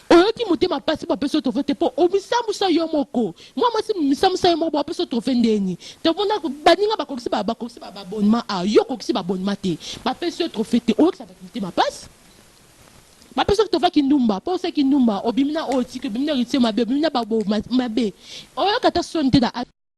Oyoki motema pasi po apesi yo trophee te po omisamusa yo moko mua mwasi misamusa yo moko bo apesi yo trophee ndeni to mona baninga bakokisi ba bakokisi ba abonnement awa yo okokisi ba abonnement te ba pesi yo trophee te oyokisa batu motema pasi ba pesi yo trophee kindumba po osa kindumba obimi na oyo tiki obimi na heritier mabe obimi na ba bo mabe oyoka ta soni te na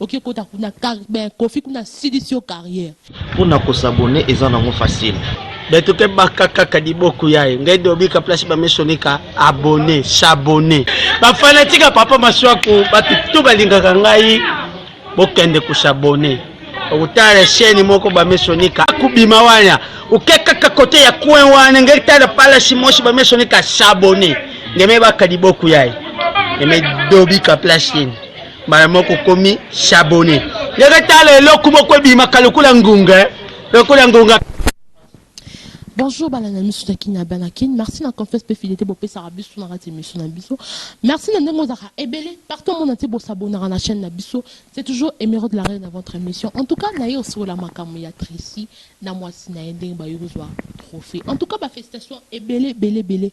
Oke kota kuna mais Kofi kuna silisi yo carrière. Pona ko s'abonner eza nango facile. Beto ke baka kaka liboku yaye ngai dobika place ba mesonika abonner s'abonner. Ba fanatique ya papa Masuaku batu tout balingaka ngai bokende ko s'abonner. Okutala chaîne moko ba mesonika kubima wana oke kaka kote ya coin wana ngai tala palace mosi ba mesonika s'abonner. Ngeme baka liboku yaye. Ngeme dobika place yene. mbala moko okomi shabone ndenge tala eloko moko ebimaka lokola ngunga eh. lokola ngunga Bonjour balanda misu na kini abana kin merci na confiance mpe fidélité bopesaka biso na kati misu na biso merci na ndenge ozalaka ebele partout omona te bosabonaka na chaîne na biso c'est toujours émero de la reine na votre émission en tout cas naye osokola makambo ya tracy na mwasi na ye ndenge bayoki kozwa trophée en tout cas bafélicitation ebele ebele ebele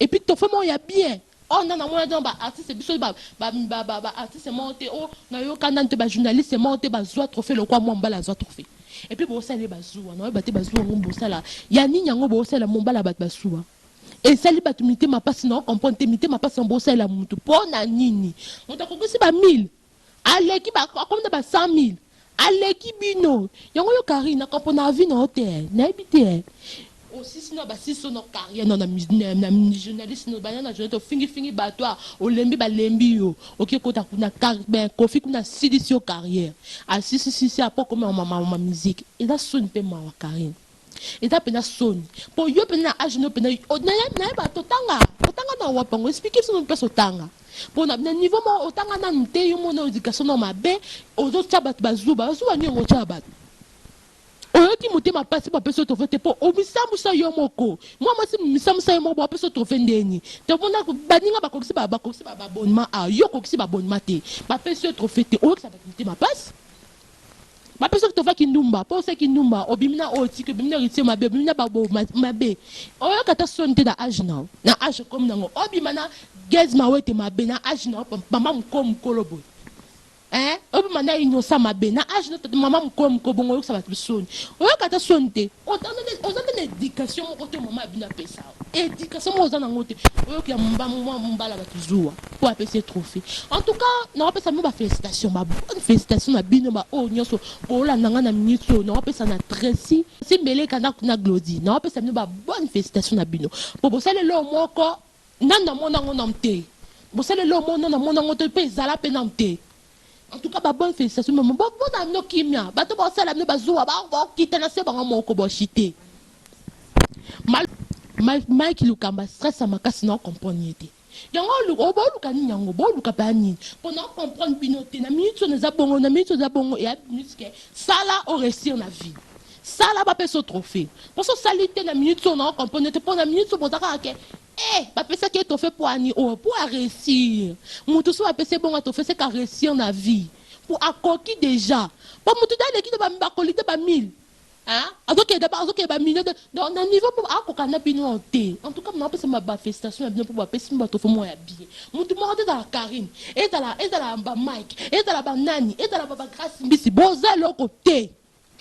Et puis tofe moko ya bien. Oyo nanu na monaki na ba artistes biso ba ba ba artistes moko te oyo na yoka nanu te ba journalistes moko te ba zua trophee lokola Mombala azua trophee. Et puis bo sali ye ba zua na yeba te ba zua yango bo sala ya nini yango bo salela Mombala batu ba sua esali batu mitema pasi nao comprendre te mitema pasi yango bo salela mutu pona nini mutu akokisi ba 1000 Aleki ba akomi na ba 100000 aleki bino yango yo carine na kopo na vie na yo te nayebi te osisi na basisi so na carrière na na journaliste na bana na journaliste ofingi fingi bato a olembi balembi yo oke kota kuna ben kofi kuna asilisi yo carrière asisi sisi apo koma ma ma musique eza soni pe mawa carine Eza pena soni po yo pena na age no pena nayeba totanga otanga na wapi yango explique biso no mpesa otanga po na niveau moko otanga nanu te yo mona education no mabe ozotia bato bazuba bazuba nini yango otia bato oyoki motema mpasi bapesi yo trofe te mpo omisambusa yo moko mwa mwasi misambusa yo moko bapesi yo trofe ndeni te omona baninga bakokisi bakokisi babonnement a yo okokisi babonnement te bapesi yo trofe te oyokisa bato motema mpasi Bapesaki tova kindumba po osa kindumba obimi na oyo otiki obimi na heritier mabe obimi na babo mabe oyoka ata soni te na age nao na age okomi nango obima na guez mawete mabe na age nao mama muko mukolo boye eh obima na inosa mabe na age nao mama muko muko bongo oyokisa batu soni oyoka ata soni te oza nde na education moko te mama abino apesa Education moko oza na ngo te oyoki ya mba mwa mbala batu zuwa oyo apesi ye trophee en tout cas na wapesa bino ba felicitation ba bonne felicitation na bino ba oyo nionso bolanda nga na minutes oyo na wapesa na Tracy si mbeleka na na Glody na wapesa bino ba bonne felicitation na bino po bosali eloko moko nanu na mona ngo nanu te bosali eloko moko nanu na mona ngo te pe ezala pe nanu te En tout cas ba bonne felicitation maman bo bota bino kimia bato bao sala bino ba zuwa ba bo kita na se bango moko bo chute mal Mike Lukamba stress ya makasi na comprendre ye te yango oluka obo oluka nini yango bo luka ba nini po na comprendre bino te na minute on eza bongo na minute oza bongo ya musique sala o réussir na vie sala ba peso trophée poso sali te na minute on na comprendre te po na minute boza kaka ke Eh ba pesaki ye trophee poani oyo po a reussir mutu soki ba pesi ye bongo ya trophee seke a reussir na vie po akoki dejà po mutu dejà aleki dejà ba kolite ba 1000 hein azokende dejà azokende ba millions de donc na niveau po ako kokana na bino oyo te en tout cas na pesa ma ba felicitations na bino po ba pesi bino ba trophee moko ya bien mutu moko te ezala Carine ezala ezala ba Mike ezala ba nani ezala ba ba Grace mbisi boza eloko te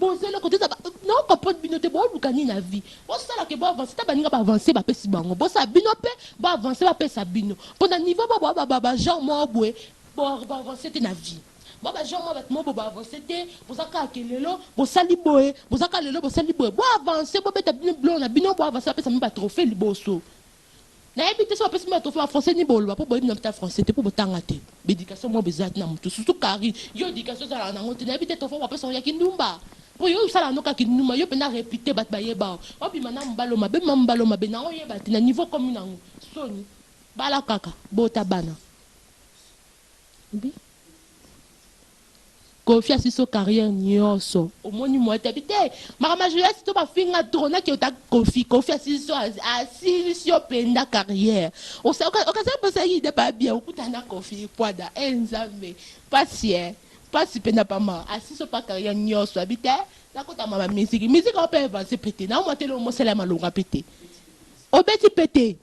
Boza eloko te eza nao comprendre bino te boluka nini na vie bosala ke bo avance ta baninga ba avance bapesi bango bosala bino pe bo avance bapesa bino pona niveau bo boa ba ba genre moko boye bo bo avance te na vie boa ba genre mwa batu moko bo bo avance te boza kaka ke lelo bosali boye boza kaka lelo bosali boye bo avance bobeta bino biloko na bino bo avance bapesa bino ba trophee liboso Nayebi te soki bapesi bino ba trophee ba français nini boloba po boyebi naino ata français te po botanga te ba education moko eza te na mutu surtout Carine yo education ozalaka nango te nayebi te trophee oko pesa ngo ya kindumba po yo osala yango kaka kindumba yo penza repute batu bayeba yo obima na mubali oyo mabe obima na mubali oyo mabe na oyeba te na niveau okomi nango soni bala kaka bota bana. Koffi asiso carrière nioso omoni mua tapi te makambo ya joyas to bafinga trop na kiota koffi koffi asiso asilisi yo penda carrière okasa posa yida babia okuta na koffi puada eh nzambe pasi eh pasi penda pama asiso pa carrière nioso abi te nakota mua ba musique musique ope avance pete na mua tele omosala malonga pete obeti pete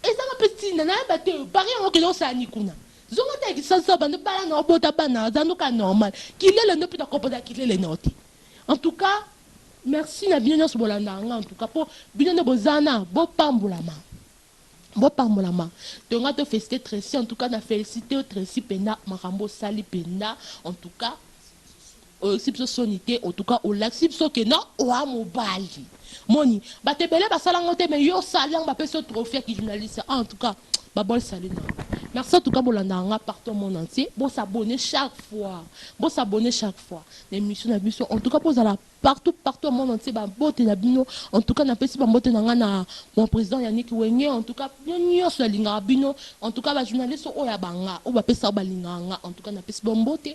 Ezanga pe tina nayeba te oyo paris yango kende osala ni kuna zonga ata ya kisansao banda bala nao bota bana aza no ka normal kilele ndo pe na kopoda kilele nao te en tout cas merci na bino nionso bolandaka nga en tout cas po bino nde boza na bo pambolama bo pambolama to nga to felicite trecy en tout cas na felicite yo trecy penda makambo osali penda en tout cas Oyoksi biso soni te en tout cas olakisi biso que non oa mobali moni batu ebele basala yango te mais yo osali yango bapesi yo trophee ya ki journaliste en tout cas ba bol salut na yo merci en tout cas bolandaka nga partout monde entier bo s'abonner chaque fois bo s'abonner chaque fois na emission na biso en tout cas bozala partout partout monde entier ba mbote na bino en tout cas na pesi ba mbote na nga na mon president Yannick Wenge en tout cas bino nionso na lingaka bino en tout cas ba journaliste oyo ya banga oyo bapesaka balingaka nga en tout cas na pesi ba mbote